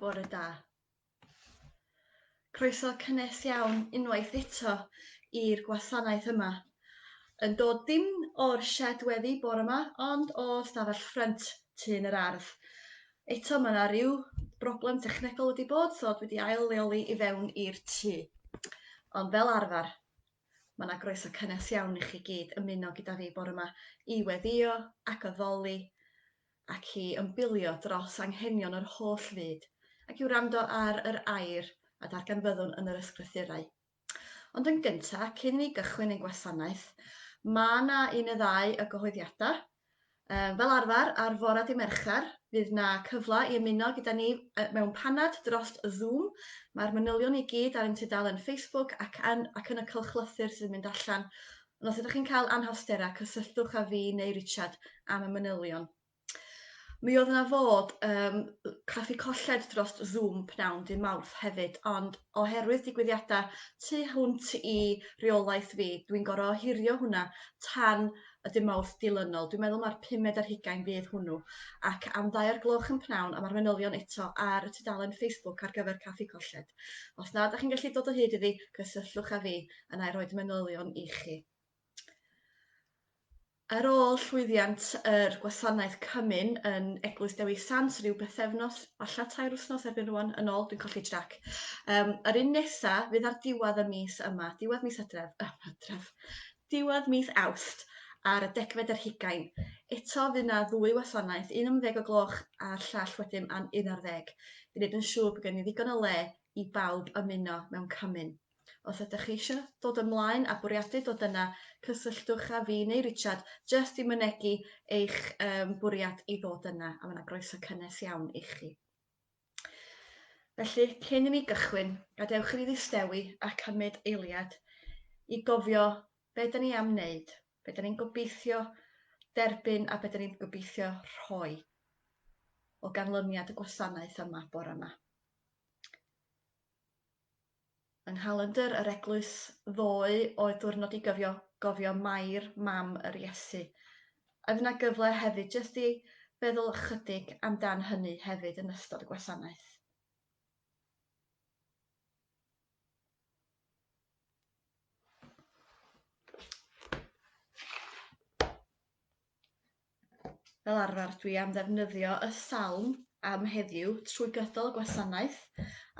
Bore da. Croeso cynnes iawn unwaith eto i'r gwasanaeth yma. Yn dod dim o'r shed weddi bore yma, ond o stafell ffrynt tŷ yn yr ardd. Eto ma' 'na ryw broblem technegol wedi bod so dwi 'di ail leoli i fewn i'r tŷ. Ond fel arfer ma' 'na groeso cynnes iawn i chi gyd ymuno gyda fi bore 'ma i weddio ac addoli ac i ymbilio dros anghenion yr holl fyd ac i wrando ar yr air a darganfyddwn yn yr ysgrythurau. Ond yn gyntaf, cyn i ni gychwyn ein gwasanaeth, mae yna un y ddau o gyhoeddiadau. Fel arfer, ar fora di Mercher, fydd yna cyfle i ymuno gyda ni mewn panad dros Zoom. Mae'r manylion i gyd ar ein tudalen Facebook ac yn, ac yn y cylchlythyr sydd yn mynd allan. Ond os ydych chi'n cael anhawsterau, cysylltwch â fi neu Richard am y manylion. Mi oedd yna fod um, craffu colled dros Zoom pnawn dy Mawrth hefyd, ond oherwydd digwyddiadau tu hwnt i reolaeth fi, dwi'n gorau ohirio hwnna tan y dy Mawrth dilynol. Dwi'n meddwl mae'r pumed ar hugain bydd hwnnw, ac am ddau o'r gloch yn pnawn a mae'r manylion eto ar y tudalen Facebook ar gyfer Caffi Colled. Os na, da chi'n gallu dod o hyd iddi, cysylltwch â fi, yna i roed manylion i chi. Ar ôl llwyddiant yr gwasanaeth Cymun yn Eglwys Dewi Sant ryw bythefnos, falla tair wythnos erbyn rwan, yn ôl, dwi'n colli trac. Um, yr un nesa fydd ar diwedd y mis yma, diwedd mis Hydref, uh, Hydref, diwedd mis Awst, ar y degfed yr hugain. Eto fydd yna ddwy wasanaeth, un am ddeg o gloch a'r llall wedyn am un ar ddeg. I wneud yn siŵr bod gen i ddigon o le i bawb ymuno mewn Cymun. Os ydych chi eisiau dod ymlaen a bwriadu dod yna, cysylltwch â fi neu Richard jyst i mynegi eich um, bwriad i ddod yna, a mae yna groeso cynnes iawn i chi. Felly, cyn i ni gychwyn, gadewch i ni ddistewi a cymryd eiliad i gofio be da ni am wneud, be da ni'n gobeithio derbyn a be da ni'n gobeithio rhoi o ganlyniad y gwasanaeth yma bore yma. Yng nghalendr yr eglwys ddoe oedd diwrnod i gyfio, gofio Mair, mam yr Iesu. Oedd yna gyfle hefyd jyst i feddwl ychydig am dan hynny hefyd yn ystod y gwasanaeth. Fel arfer, dwi am ddefnyddio y salm am heddiw trwy gydol y gwasanaeth,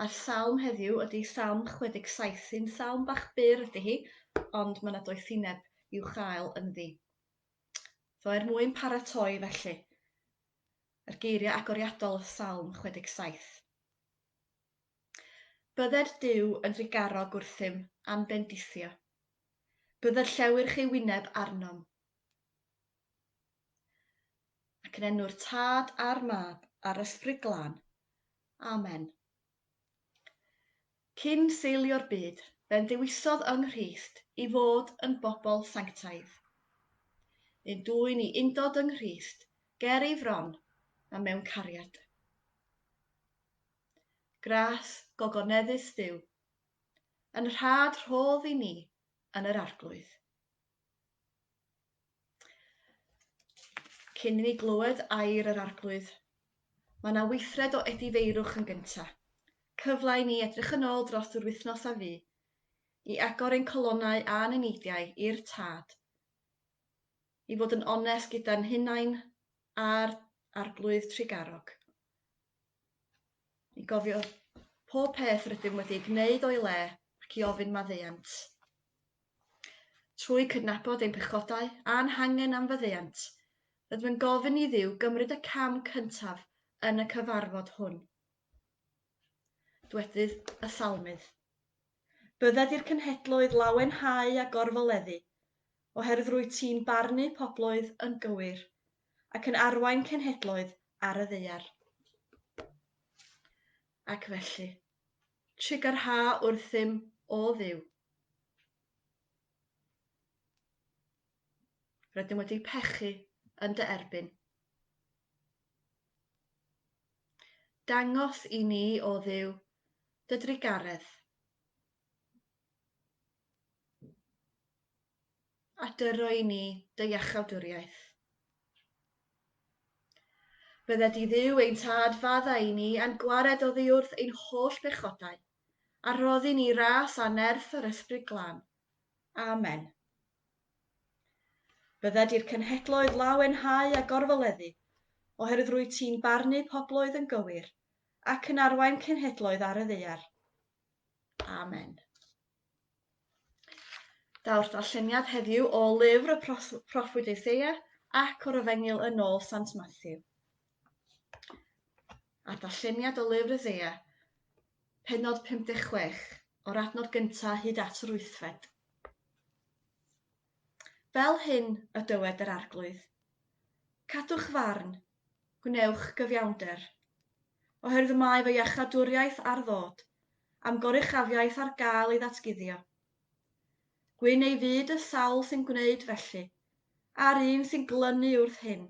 a'r salm heddiw ydy Salm 67, sy'n salm bach byr ydy hi, ond mae 'na doethineb i'w chael ynddi. So er mwyn paratoi felly, yr geiriau agoriadol o Salm 67. Bydded Duw yn ddigarog wrthym a'n bendithio. Bydd yr llewyrch ei wyneb arnom, Ac yn enw'r Tad a'r Mab a'r Ysbryd Glân. Amen. Cyn seilio'r byd, fe'n ddewisodd yng Nghrist i fod yn bobl sanctaidd. Yn dwyn i undod yng Nghrist ger ei fron a mewn cariad. Gras gogoneddus Dduw, yn rhad rhodd i ni yn yr Arglwydd. Cyn i ni glywed air yr Arglwydd, mae yna weithred o edifeirwch yn gynta', cyfle i ni edrych yn ôl dros yr wythnos a fu, i agor ein calonnau a'n eneidiau i'r Tad, i fod yn onest gyda'n hunain a'r Arglwydd Trugarog. i gofio pob peth rydym wedi ei gwneud o'i le ac i ofyn maddeuant. Trwy cydnabod ein pechodau a'n hangen am faddeuant, rydym yn gofyn i Dduw gymryd y cam cyntaf yn y cyfarfod hwn. Dwedydd y Salmydd. Bydded i'r cenhedloedd lawenhau a gorfoleddu, oherwydd rwyt ti'n barnu pobloedd yn gywir, ac yn arwain cenhedloedd ar y ddaear. Ac felly, trugarha wrthym, O Dduw. Rydym wedi pechu yn dy erbyn. Dangos i ni, O Dduw, Dy drugaredd. A dyro i ni dy iachawdwriaeth. Bydde di dduw ein tad fadda i ni a'n gwared oddiwrth ein holl bechodau, a rhoddi ni ras a nerth yr Ysbryd Glân. Amen. Bydde di'r cenhedloedd lawenhau a gorfoleddu, oherwydd rwy ti'n barnu pobloedd yn gywir, ac yn arwain cenhedloedd ar y ddaear. Amen. Daw'r darlleniad heddiw o lyfr y proffwyd Eiseia ac o'r Efengyl yn ôl Sant Matthew. A'r darlleniad o lyfr Eiseia, penod 56, o'r adnod gyntaf hyd at yr wythfed. Fel hyn y dywed yr Arglwydd, Cadwch farn, gwnewch gyfiawnder, oherwydd y mae fy iachadwriaeth ar ddod, a'm goruchafiaeth ar gael ei ddatguddio. Gwyn ei fyd y sawl sy'n gwneud felly, a'r un sy'n glynu wrth hyn,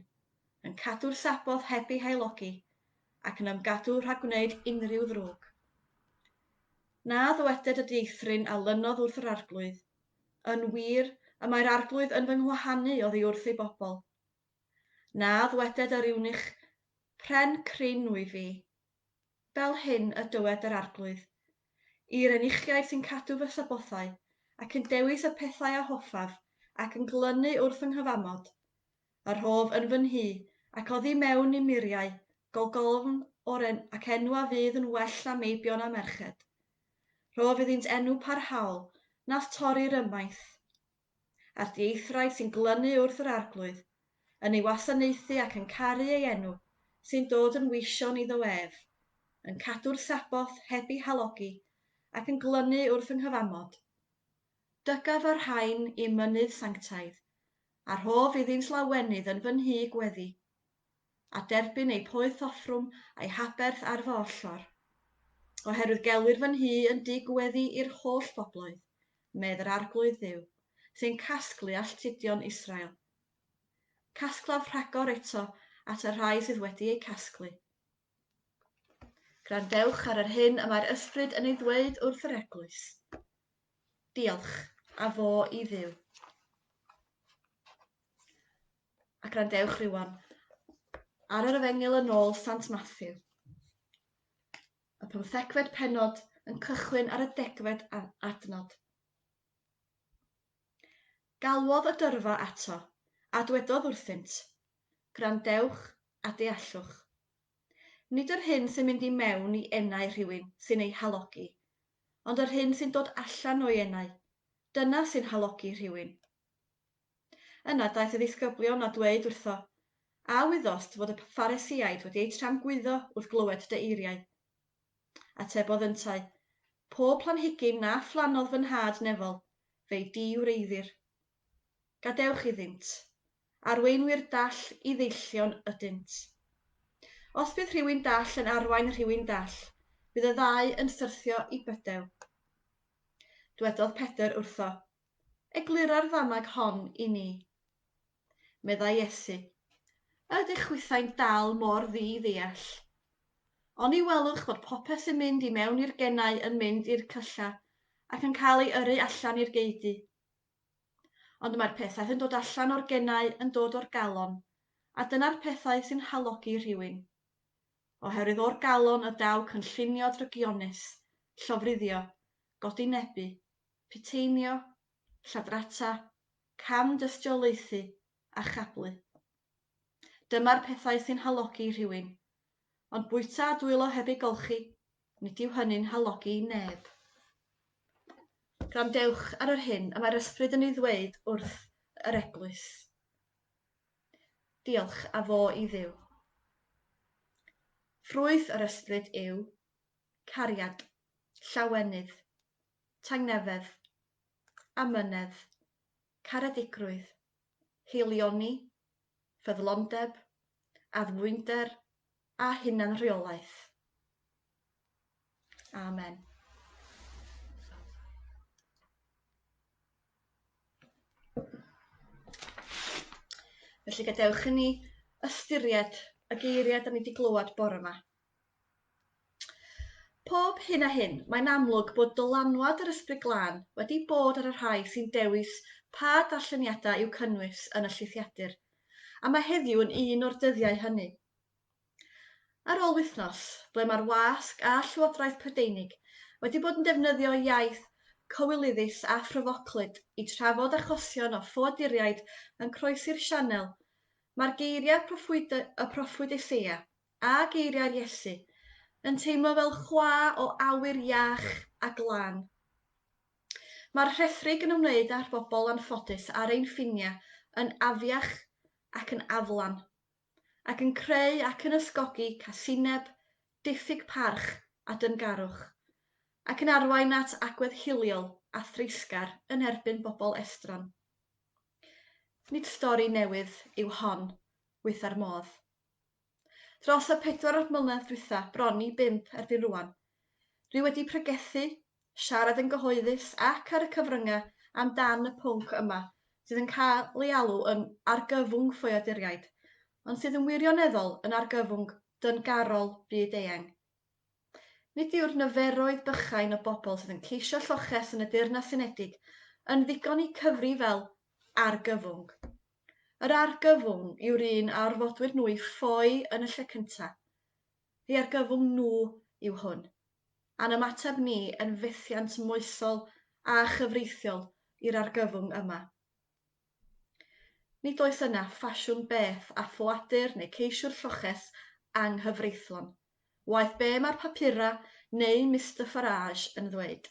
yn cadw'r Sabboth heb ei haelogi, ac yn ymgadw rhag gwneud unrhyw ddrwg. Na ddyweded y dieithryn a lynodd wrth yr Arglwydd, Yn wir, y mae'r Arglwydd yn fy nghwahanu oddi wrth ei bobl. Na ddweded yr Iwnich pren cryn wyf fi. Fel hyn y dywed yr Arglwydd, I'r Enuchiaid sy'n cadw fy Sabbothau, ac yn dewis y pethau a hoffaf, ac yn glynu wrth fy nghyfamod, y rhof yn fy nhŷ, ac oddi mewn i muriau, golgolfn o'r ac enw a fydd yn well na meibion a merched. Rhof iddynt enw parhaol nath torri'r ymaith. A'r dieithwraig sy'n glynu wrth yr Arglwydd, yn ei wasanaethu ac yn caru ei enw, sy'n dod yn weision iddo ef, yn cadw'r Sabboth heb ei halogi ac yn glynu wrth fy nghyfamod. Dygaf y rhain i'm mynydd sanctaidd, a rhof iddynt lawenydd yn fy nhŷ gweddi. a derbyn eu poeth offrwm a'i haberth ar fy ollor. Oherwydd gelwir fy nhŷ yn dŷ gweddi i'r holl bobloedd, medd yr Arglwydd Dduw, sy'n casglu alltudion Israel. Casglaf rhagor eto at y rhai sydd wedi eu casglu. Grandewch ar yr hyn y mae'r Ysbryd yn ei ddweud wrth yr eglwys. Diolch, a fo i Dduw. A gwrandewch rŵan ar yr Efengyl yn ôl Sant Mathew. Y pymthegfed pennod yn cychwyn ar y degfed adnod. Galwodd y dyrfa ato, a dwedodd wrthynt, Gwrandewch a deallwch. Nid yr hyn sy'n mynd i mewn i enau rhywun sy'n ei halogi, ond yr hyn sy'n dod allan o'i enau, dyna sy'n halogi rhywun. Yna daeth y ddisgyblion a dweud wrtho, A wyddost fod y Pharisïaid wedi eu tramgwyddo wrth glywed dy eiriau? Atebodd yntau, Pob planhigyn na phlannodd fy Nhad nefol, fe'i di-wreiddir. Gadewch iddynt. Arweinwyr dall i ddeillion ydynt. Os bydd rhywun dall yn arwain rhywun dall, bydd y ddau yn syrthio i bydew. Dwedodd Pedr wrtho, Eglura'r ddanag hon i ni. Meddai Iesu, A ydych chwithau'n dal mor ddi-ddeall? Oni welwch fod popeth sy'n mynd i mewn i'r genau yn mynd i'r cylla ac yn cael ei yrru allan i'r geudy? Ond mae'r pethau sy'n dod allan o'r genau yn dod o'r galon, a dyna'r pethau sy'n halogi rhywun. Oherwydd o'r galon y daw cynllunio drygionus, llofruddio, godinebu, piteinio, lladrata, cam-dystiolaethu a chablu. Dyma'r pethau sy'n halogi rhywun. Ond bwyta a dwylo heb ei golchi, nid yw hynny'n halogi neb. Gwrandewch ar yr hyn y mae'r ysbryd yn ei ddweud wrth yr eglwys. Diolch a fo i Dduw. Ffrwyth yr ysbryd yw cariad, llawenydd, tangnefedd, amynedd, caredigrwydd, haelioni, ffyddlondeb, addfwynder a hunanrheolaeth. Amen. Felly gadewch i ni ystyried y geiriau da ni wedi glywed bore yma. Pob hyn a hyn, mae'n amlwg bod dylanwad yr Ysbryd Glân wedi bod ar y rhai sy'n dewis pa darlleniadau i'w cynnwys yn y llithiadur, a mae heddiw yn un o'r dyddiau hynny. Ar ôl wythnos, ble mae'r wasg a Llywodraeth Prydeinig wedi bod yn defnyddio iaith cywilyddus a phryfoclyd i trafod achosion o ffoaduriaid yn croesi'r Sianel, mae'r geiriau proffwydol y proffwyd Eseia a geiriau'r Iesu, yn teimlo fel chwa o awyr iach a glân. Mae'r rhethrig yn ymwneud â'r bobl anffodus ar ein ffiniau yn afiach ac yn aflan, ac yn creu ac yn ysgogi casineb, diffyg parch a dyngarwch, ac yn arwain at agwedd hiliol a threisgar yn erbyn bobl estron. Nid stori newydd yw hon, wyth ar modd. Dros y pedwar mlynedd dwytha, bron i bump erbyn rwan, dwi wedi pregethu, siarad yn gyhoeddus ac ar y cyfrynga am dan y pwnc yma sydd yn cael ei alw yn argyfwng ffoaduriaid, ond sydd yn wirioneddol yn argyfwng dyngarol byd-eang. Nid yw'r niferoedd bychain o bobl sydd yn ceisio lloches yn y Deyrnas Unedig yn ddigon i cyfri fel argyfwng. Yr argyfwng yw'r un a orfodwyd nhw i ffoi yn y lle cyntaf. Ei argyfwng nhw yw hwn, a'n ymateb ni yn fethiant moesol a chyfreithiol i'r argyfwng yma. Nid oes yna ffasiwn beth a ffoadur neu ceisiwr lloches anghyfreithlon, waeth be mae'r papurau neu Mister Farage yn ddweud.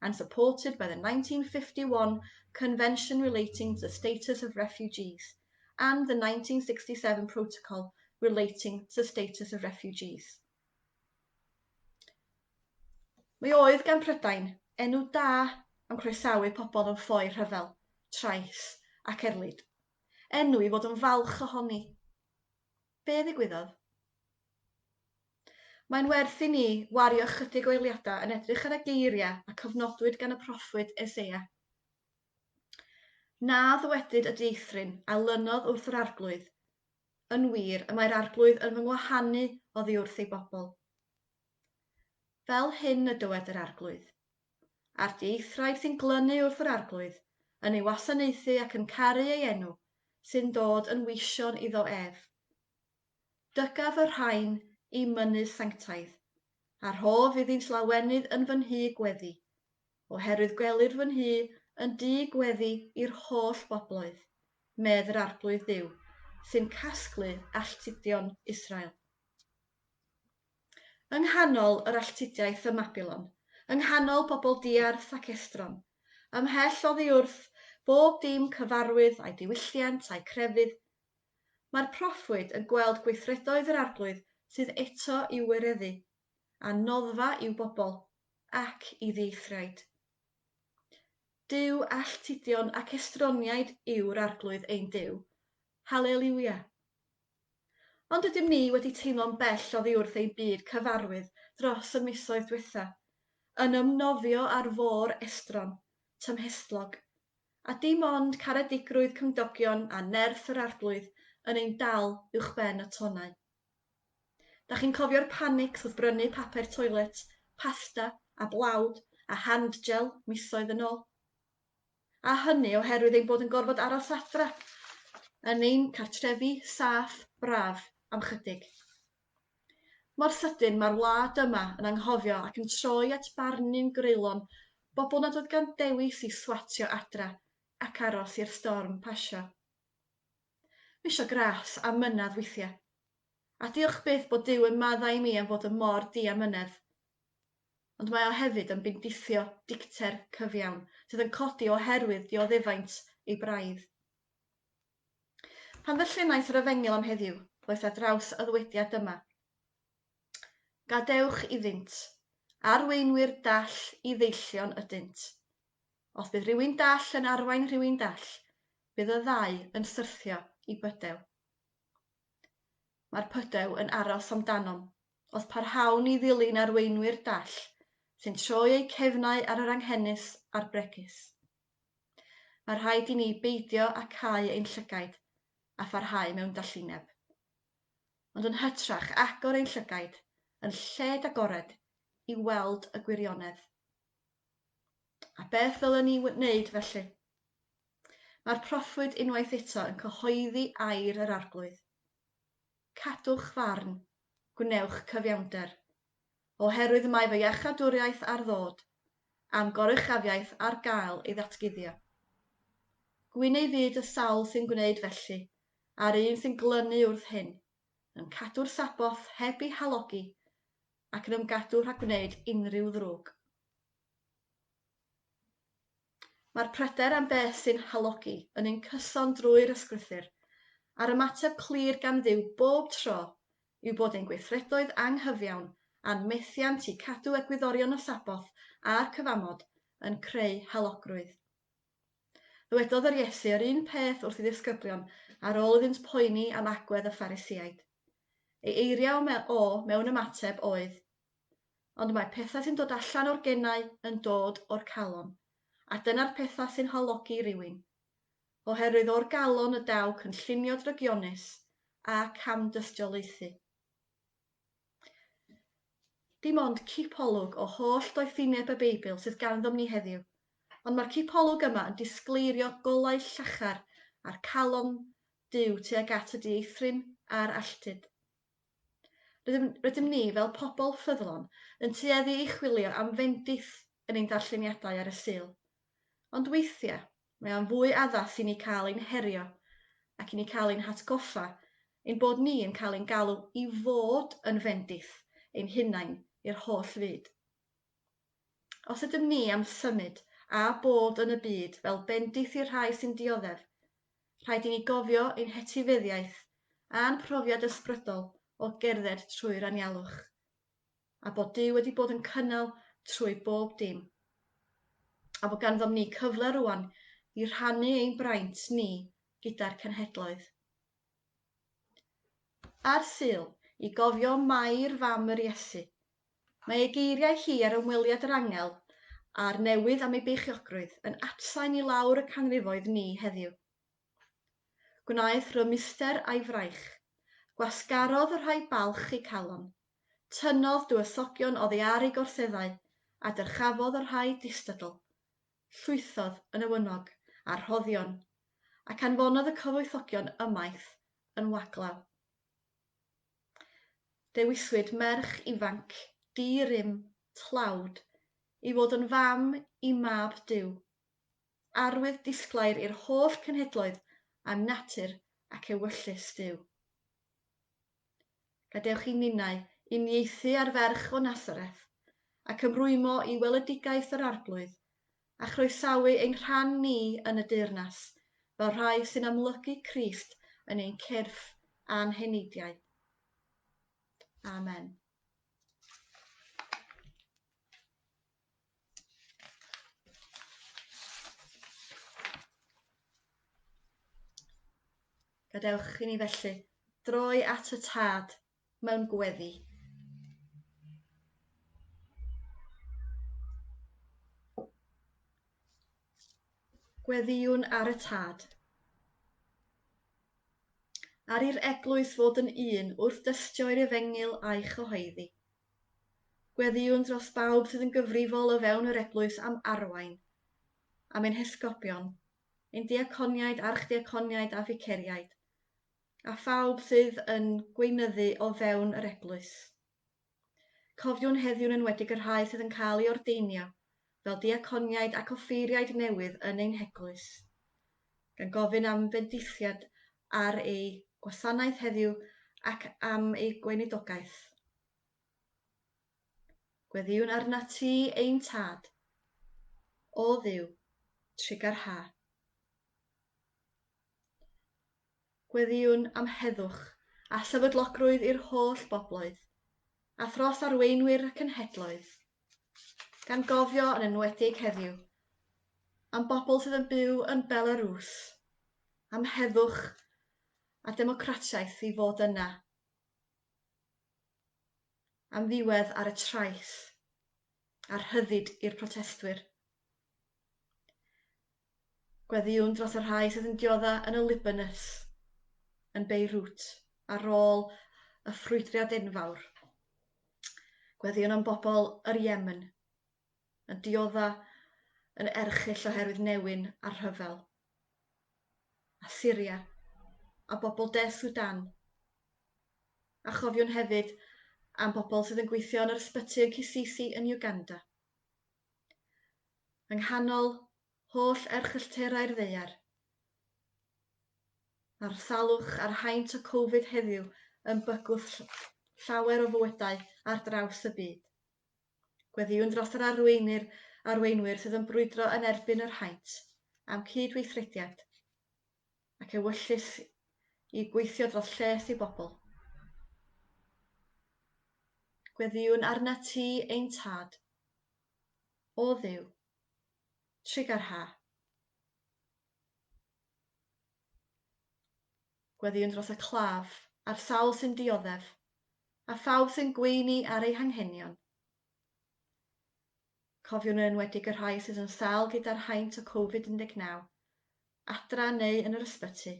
and supported by the 1951 Convention Relating to the Status of Refugees and the 1967 Protocol Relating to the Status of Refugees. Mi oedd gan Prydain enw da am croesawu pobl yn ffoi rhyfel, trais ac erlid. Enw i fod yn falch ohoni. Be ddigwyddodd? Mae'n werth i ni wario ychydig o eiliadau yn edrych ar y geiriau a cofnodwyd gan y proffwyd Eseia. Na ddywedyd y dieithryn a lynodd wrth yr Arglwydd, Yn wir, y mae'r Arglwydd yn fy ngwahanu oddi wrth ei bobl. Fel hyn y dywed yr Arglwydd. a'r dieithriaid sy'n glynu wrth yr Arglwydd, yn ei wasanaethu ac yn caru ei enw, sy'n dod yn weision iddo ef. Dygaf y rhain i mynnu sanctaidd, a rhof iddynt lawenydd yn fy nhŷ gweddi, oherwydd gwelir fy nhŷ yn dŷ gweddi i'r holl bobloedd, medd yr Arglwydd Dduw, sy'n casglu alltudion Israel. Yng nghanol yr alltudiaeth ym Mabilon, yng nghanol bobl diarth ac estron, ymhell oddi wrth bob dim cyfarwydd â'i diwylliant a'i crefydd, mae'r proffwyd yn gweld gweithredoedd yr Arglwydd sydd eto i'w wireddu, a noddfa i'w bobl, ac i ddieithriaid. Duw alltudion ac estroniaid yw'r Arglwydd ein Duw. Haleliwia! Ond ydym ni wedi teimlo'n bell oddi wrth ein byd cyfarwydd dros y misoedd diwetha', yn ymnofio ar fôr estron, tymhestlog, a dim ond caredigrwydd cymdogion a nerth yr Arglwydd yn ein dal uwchben y tonnau? Da chi'n cofio'r panics wrth brynu papur toilet, pasta a blawd a hand-gel misoedd yn ôl? a hynny oherwydd ein bod yn gorfod aros adra, yn ein cartrefi saff braf am chydig. Mor sydyn mae'r wlad yma yn anghofio ac yn troi at barnu'n greulon bobl nad oedd gan dewis i swatio adra ac aros i'r storm pasio. Misio gras a mynedd weithiau. A diolch byth bod Duw yn maddau i mi am fod yn mor di a mynedd. ond mae o hefyd yn bendithio dicter cyfiawn sydd yn codi oherwydd dioddefaint ei braidd. Pan ddarllenais yr efengyl am heddiw, ddois ar draws y ddywediad dyma, Gadewch iddynt, arweinwyr dall i ddeillion ydynt. Os bydd rhywun dall yn arwain rhywun dall, bydd y ddau yn syrthio i bydew. Mae'r pydew yn aros amdanom, Os parhawn i ddilyn arweinwyr dall sy'n troi eu cefnau ar yr anghenus a'r bregus, mae rhaid i ni beidio â cau ein llygaid a pharhau mewn dallineb, ond yn hytrach agor ein llygaid yn lled-agored i weld y gwirionedd. A beth ddylen ni wneud felly? Mae'r proffwyd unwaith eto yn cyhoeddi air yr Arglwydd. Cadwch farn, gwnewch cyfiawnder. Oherwydd mae fy iachadwriaeth ar ddod, a'm goruchafiaeth ar gael ei ddatguddio. Gwyn ei fyd y sawl sy'n gwneud felly, a'r un sy'n glynu wrth hyn, yn cadw'r Sabboth heb ei halogi, ac yn ymgadw rhag gwneud unrhyw ddrwg. Mae'r pryder am beth sy'n halogi yn un cyson drwy'r ysgrythur, a'r ymateb clir gan Dduw bob tro yw bod ein gweithredoedd anghyfiawn a'n methiant i cadw egwyddorion y Sabboth a'r cyfamod yn creu halogrwydd. Ddywedodd yr Iesu yr un peth wrth i ddisgyblion ar ôl iddynt poeni am agwedd y Pharisiaid. Ei eiriau o mewn ymateb oedd, Ond mae pethau sy'n dod allan o'r genau yn dod o'r calon, a dyna'r pethau sy'n halogi rhywun. Oherwydd o'r galon y daw cynllunio drygionus a camdystiolaethu. Dim ond cipolwg o holl doethineb y Beibl sydd ganddom ni heddiw, ond mae'r cipolwg yma yn disgleirio golau llachar a'r calon Duw tuag at y dieithryn a'r alltud. Rydym, rydym ni, fel pobl ffyddlon, yn tueddu i chwilio am fendith yn ein darlleniadau ar y Sul. Ond weithiau, mae o'n fwy addas i ni cael ein herio ac i ni cael ein hatgoffa ein bod ni yn cael ein galw i fod yn fendith ein hunain i'r holl fyd. Os ydym ni am symud a bod yn y byd fel bendith i'r rhai sy'n dioddef, rhaid i ni gofio ein hetifeddiaeth a'n profiad ysbrydol o gerdded trwy'r anialwch, a bod Duw wedi bod yn cynnal trwy bob dim, a bod ganddom ni cyfle rŵan i rhannu ein braint ni gyda'r cenhedloedd. Ar Sul, i gofio Mair fam yr Iesu, Mae ei geiriau hi ar ymweliad yr angel a'r newydd am ei beichiogrwydd yn atsain i lawr y canrifoedd ni heddiw. Gwnaeth rymuster a'i fraich. Gwasgarodd y rhai balch eu calon. Tynnodd dywysogion oddi ar eu gorseddau a dyrchafodd y rhai distydl. Llwythodd yn ewynog a rhoddion, ac anfonodd y cyfoethogion ymaith yn waglaw. Dewiswyd merch ifanc di-rym tlawd i fod yn fam i mab Duw. Arwydd disglair i'r holl cenhedloedd am natur ac ewyllys Duw. Gadewch i ninnau uniaethu â'r ferch o Nasareth ac ymrwymo i weledigaeth yr Arglwydd a chroesawu ein rhan ni yn y deyrnas fel rhai sy'n amlygu Crist yn ein cyrff a'n heneidiau. Amen. Gadewch i ni felly droi at y Tad mewn gweddi. Gweddïwn ar y tad. Ar i'r eglwys fod yn un wrth dystio i'r efengyl a'i chyhoeddi. Gweddïwn dros bawb sydd yn gyfrifol o fewn yr eglwys am arwain, am ein hesgopion, ein diaconiaid, archddiaconiaid a ficeriaid, a phawb sydd yn gweinyddu o fewn yr Eglwys. Cofiwn heddiw'n enwedig y rhai sydd yn cael ei ordeinio fel diaconiaid ac offeiriaid newydd yn ein heglwys, gan gofyn am fendithiad ar eu gwasanaeth heddiw ac am eu gweinidogaeth. Gweddïwn arnat ti ein Tad, O Dduw, trugar ha. Gweddïwn am heddwch a sefydlogrwydd i'r holl bobloedd, a thros arweinwyr y cenhedloedd, gan gofio yn enwedig heddiw am bobl sydd yn byw yn Belarws, am heddwch a democratiaeth i fod yna. am ddiwedd ar y trais a rhyddid i'r protestwyr. Gweddïwn dros y rhai sydd yn diodda yn y Libanus, yn Beirut, ar ôl y ffrwydriad enfawr. Gweddïwn am bobl yr Yemen, yn diodda' yn erchyll oherwydd newyn a rhyfel, a Syria, a bobl De Sudan. A chofiwn hefyd am bobl sydd yn gweithio yn yr ysbyty yn Kisisi yn Uganda. Yng nghanol holl erchyllterau'r ddaear, mae'r salwch a'r haint o Covid heddiw yn bygwth llawer o fywydau ar draws y byd. Gweddïwn dros yr arweinir, arweinwyr sydd yn brwydro yn erbyn yr haint am cyd-weithrediad ac ewyllys i gweithio dros lles i bobl. Gweddïwn arnat ti, ein Tad. O Dduw, trugarha. Gweddïwn dros y claf a'r sawl sy'n dioddef a phawb sy'n gweini ar eu hanghenion. Cofiwn yn enwedig y rhai sydd yn sâl gyda'r haint o Covid 19, adra neu yn yr ysbyty.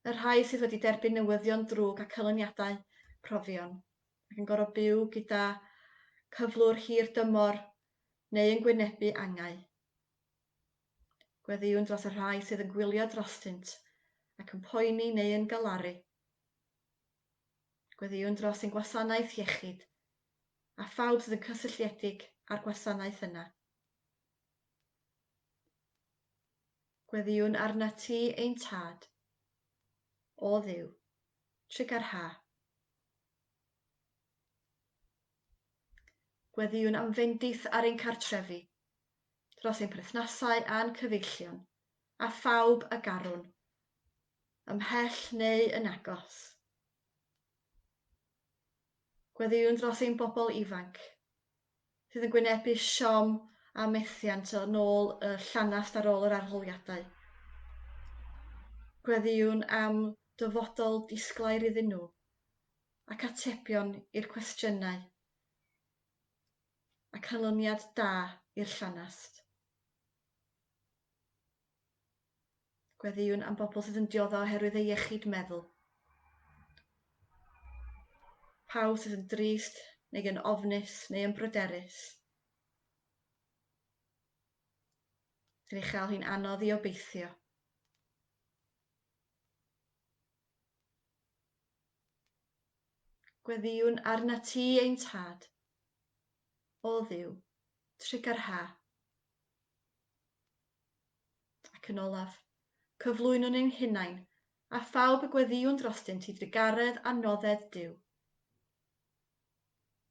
Y rhai sydd wedi derbyn newyddion drwg a canlyniadau profion, ac yn gorfod byw gyda cyflwr hir dymor neu yn gwynebu angau. Gweddïwn dros y rhai sydd yn gwylio drostynt ac yn poeni neu yn galaru. Gweddïwn dros ein gwasanaeth iechyd a phawb sydd yn cysylltiedig â'r gwasanaeth yna. Gweddïwn arnat ti, ein Tad, o Dduw, trigâr ha. Gweddïwn am fendith ar ein cartrefi, dros ein perthnasau a'n cyfeillion, a phawb a garwn, ymhell neu yn agos. Gweddïwn dros ein bobl ifanc, sydd yn gwynebu siom a methiant o nôl y llanast ar ôl yr arholiadau. Gweddïwn am dyfodol disglair iddyn nhw, ac atebion i'r cwestiynau, a canlyniad da i'r llanast. Gweddïwn am bobl sydd yn diodda oherwydd ei iechyd meddwl. Pawb sydd yn drist neu yn ofnus neu yn bryderus. Yn ei chael hi'n anodd i obeithio. Gweddïwn arna ti ein tad. O ddiw, trigar ha, Ac yn olaf, cyflwynwn ein hunain a phawb y gweddïwn drostynt i drugaredd a nodded Duw.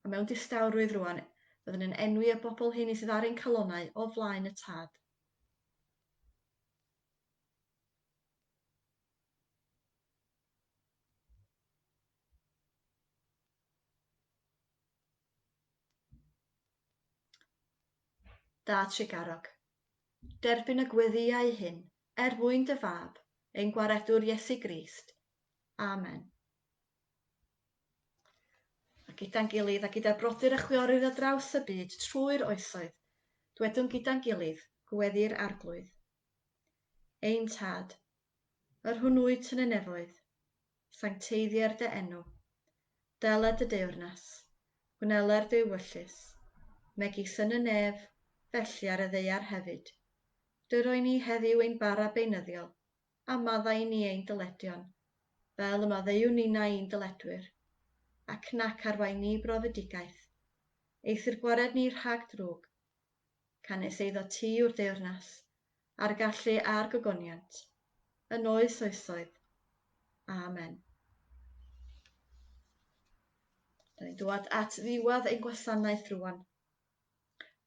A mewn distawrwydd rwan, byddwn yn enwi y bobl hyn i sydd ar ein calonnau o flaen y Tad. Da Tregarog. Derbyn y gweddïau hyn er mwyn dy fab, ein Gwaredwr Iesu Grist. Amen. A gyda'n gilydd a gyda brodyr a chwiorydd ar draws y byd trwy'r oesoedd, dwedwn gyda'n gilydd, Gweddi'r Arglwydd. Ein Tad, Yr hwn wyt yn y nefoedd, sancteiddier dy enw. Dela dy deyrnas, gwneler dy ewyllys, megis yn y nef, felly ar y ddaear hefyd. Dyro i ni heddiw ein bara beunyddiol, a madda i ni ein dyledion, fel y maddeuwn ninnau i'n dyledwyr. Ac nac arwain ni i brofedigaeth. Eithr gwared ni rhag drwg, gan nes eiddo tu'r deyrnas, a'r gallu a'r gogoniant, yn oes oesoedd. Amen. Da ni'n dŵad at ddiwedd ein gwasanaeth rwan.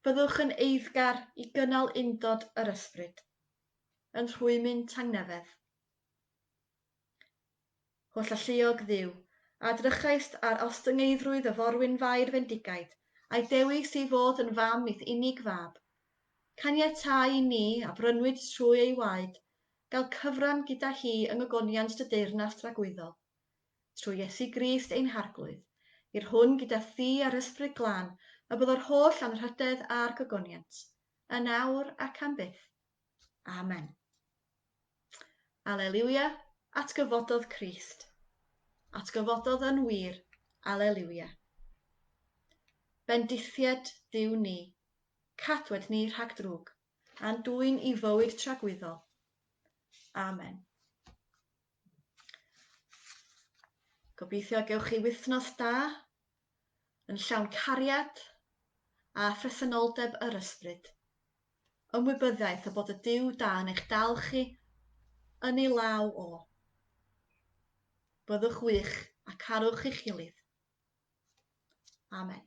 Byddwch yn eiddgar i gynnal undod yr ysbryd, yn rhwymyn tangnefedd. Holl alluog Dduw, a drychaist ar ostyngeiddrwydd y forwynfair fendigaid, a'i dewis ei fod yn fam i'th unig fab, caniatáu i ni, a brynwyd trwy ei waed, gael cyfran gyda hi yng ngogoniant dy deyrnas dragwyddol. Trwy Iesu Grist ein Harglwydd, i'r hwn gyda thi a'r Ysbryd Glân y byddor holl anrhydedd a'r gogoniant, yn awr ac am byth. Amen. Aleliwia, atgyfododd Crist. Atgyfododd yn wir, aleliwia. Bendithied Duw ni, cadwed ni rhag drwg, a'n dwyn i fywyd tragwyddol. Amen. Gobeithio gewch chi wythnos da yn llawn cariad a phresenoldeb yr Ysbryd. Ymwybyddiaeth y bod y Duw da yn eich dal chi yn ei law o. Byddwch wych a carwch eich gilydd. Amen.